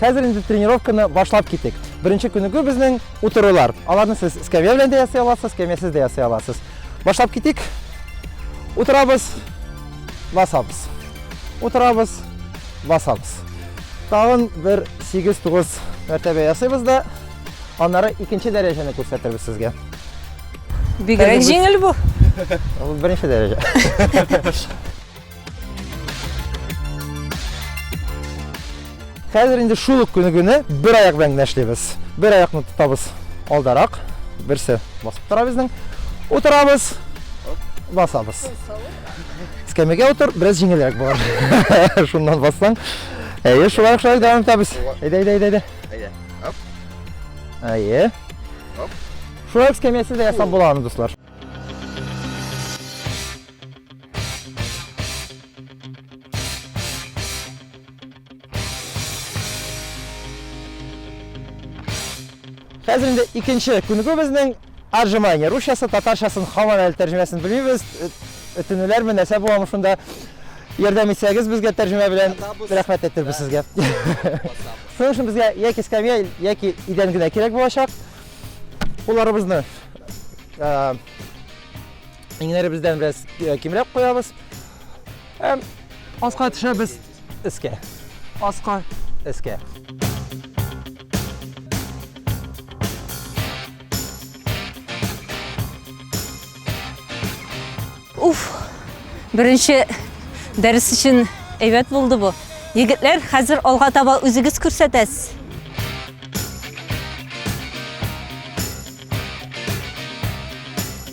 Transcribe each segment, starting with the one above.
Хәзер инде тренировканы башлап китик. Беренче күнегү безнең утырулар. Аларны сез скамья белән дә ясый аласыз, скамьясыз да ясый аласыз. Башлап китик. Утырабыз, басабыз. Утырабыз, басабыз. Тагын бер 8-9 мәртәбә ясыйбыз да Аннары икенче дәрәҗәне күрсәтербез сезгә. Бигрәк җиңел бу. Ул беренче дәрәҗә. Хәзер инде шул ук көне генә бер аяк белән генә эшлибез. Бер аякны тотабыз алдарак, берсе басып тора безнең. Утырабыз, басабыз. Скамейга утыр, бераз җиңелрәк булыр. Шуннан бассаң. Әйе, шулай шулай дәвам итәбез. Әйдә, әйдә, әйдә, әйдә. Әйе. Оп. Әйе. Оп. Шулай ук скамьясы да ясап була аны, дуслар. Хәзер инде икенче күнегү безнең Отжимание, русчасы, татарчасын һаман әле тәрҗемәсен белмибез. Өтенүләрме, нәрсә буламы шунда? Ярдәм итсәгез безгә тәрҗемә белән рәхмәт әйтербез сезгә. Шуның өчен безгә яки скамья, яки идән генә кирәк булачак. Кулларыбызны иңнәребездән бераз кимрәк куябыз. Һәм аска төшәбез. Эскә. Аска. Эскә. Уф! Беренче дәрес өчен әйбәт булды бу. Егетләр, хәзер алга таба үзегез күрсәтәсез.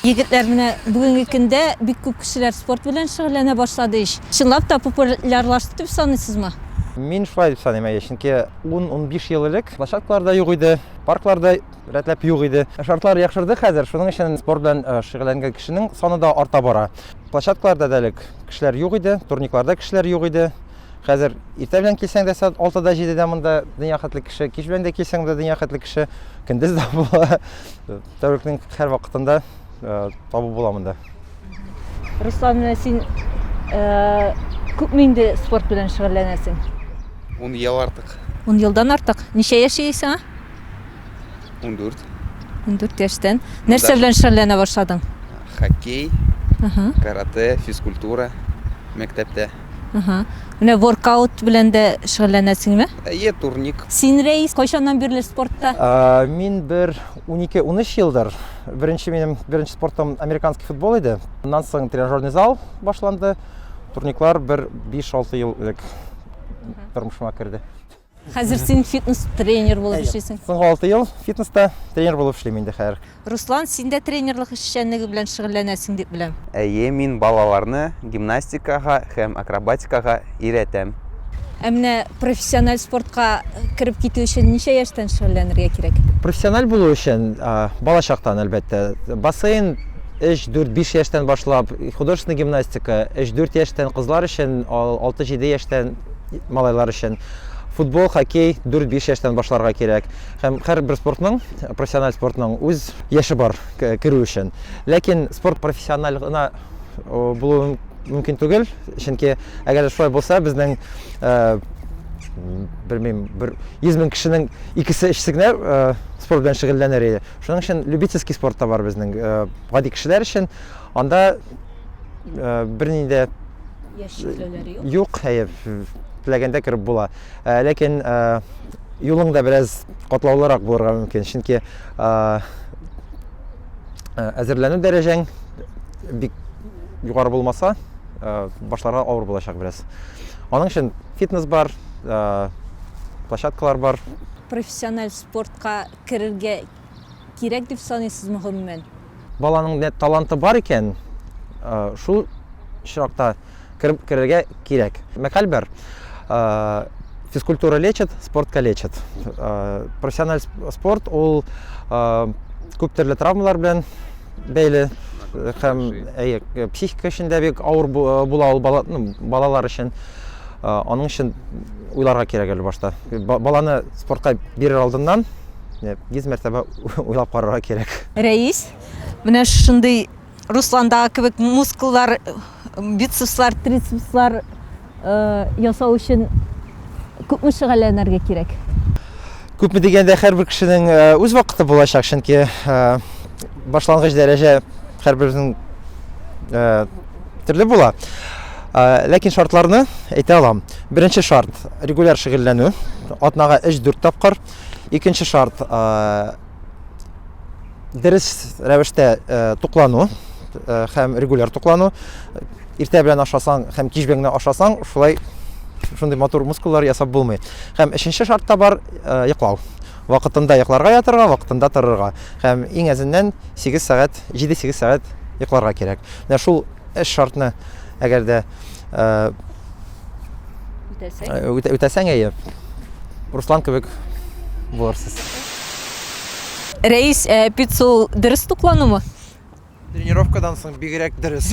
Егетләр менә бүгенге көндә бик күп кешеләр спорт белән шөгыльләнә башлады ич. Чынлап та популярлашты дип саныйсызмы? Мин шулай дип саныйм, әйе, чөнки 10-15 ел элек площадкалар да юк иде, парклар да рәтләп юк иде. Шартлар яхшырды хәзер, шуның өчен спорт белән э, шөгыльләнгән кешенең саны да арта бара. Площадкаларда да элек кешеләр юк иде, турникларда кешеләр юк иде. Хәзер иртә белән килсәң дә сәгать алтыда җидедә монда дөнья хәтле кеше, кич белән дә килсәң дә дөнья хәтле кеше, көндез дә була. Тәүлекнең һәр вакытында э, табу була монда. Руслан, менә син э, күпме инде спорт белән шөгыльләнәсең? Ун ел артык. Ун елдан артык. Ничә яшь ия сиңа? Ундүрт. Ундүрт яшьтән. Нәрсә белән шөгыльләнә башладың? Хоккей, карате, физкультура мәктәптә. Аһа. Менә воркаут белән дә шөгыльләнәсеңме? Әйе, турник. Син, Рәис, кайчаннан бирле спортта? Мин бер унике, унөч елдыр. Беренче минем беренче спортым американский футбол иде. Аннан соң тренажерный зал башланды. Турниклар бер биш-алты ел элек тормышыма керде. Хәзер син фитнес тренер булып эшлисең. Соңгы алты ел фитнеста тренер булып эшлим инде хәзер. Руслан, син дә тренерлык эшчәнлеге белән шөгыльләнәсең дип беләм. Әйе, мин балаларны гимнастикага һәм акробатикага өйрәтәм. Ә менә профессиональ спортка кереп китү өчен ничә яшьтән шөгыльләнергә кирәк? Профессиональ булу өчен балачактан, әлбәттә. Бассейн өч-дүрт-биш яшьтән башлап, художественный гимнастика өч-дүрт яшьтән, кызлар өчен алты-җиде яшьтән. Малайлар өчен футбол, хоккей 4-5 яшьтән башларга кирәк. Һәм һәрбер спортның, профессиональ спортның үз яше бар керү өчен. Ләкин спорт профессиональ гына булу мөмкин түгел, чөнки әгәр шулай булса, безнең белмим, бер 100 мең кешенең икесе өчесе генә спорт белән шөгыльләнер иде. Шуның өчен любительский спорт та бар безнең гади кешеләр өчен. Анда э, берни дә Яшь чикләүләре юк. юк, хәер, теләгәндә кереп була. Э, Ләкин э, юлың да бераз катлаулырак булырга мөмкин, чөнки э, э, әзерләнү дәрәҗәң бик югары булмаса, э, башларга авыр булачак бераз. Аның өчен фитнес бар, э, площадкалар бар, Профессиональ спортка керергә кирәк дип саныйсызмы гомумән? Баланың нәт таланты бар икән, шул очракта кереп керергә кирәк. Мәкаль бар, физкультура лечит, спорт калечит. Профессиональ спорт ул күп төрле травмалар белән бәйле һәм әйе, психика өчен дә бик авыр була ул бала, ну, балалар өчен. Аның өчен уйларга кирәк әле башта. Баланы спортка бирер алдыннан 100 мәртәбә Уйлап карарга кирәк. Рәис, менә шундый Русландагы кебек мускуллар, бицепслар, трицепслар ясау өчен күпме шөгыльләнергә кирәк? Күпме дигәндә, һәрбер кешенең үз вакыты булачак, чөнки башлангыч дәрәҗә һәрбернең төрле була. Ләкин шартларны әйтә алам. Беренче шарт, регуляр шөгыльләнү. Атнага 3-4 тапкыр. Икенче шарт дөрес рәвештә туклану һәм регуляр туклану. Иртә белән ашасаң һәм кич белән ашасаң, шулай шундый матур мускуллар ясап булмый. Һәм өченче шарт та бар, йоклау. Вакытында йокларга ятырга, вакытында торырга. Һәм иң әзеннән 8 сәгать, 7-8 сәгать йокларга кирәк. Менә шул Эш шартны әгәр дә үтәсәң, әйе, Руслан кебек булырсыз. Рәис, ә пицца ул дөрес тукланумы? Тренировкадан соң бигрәк дөрес.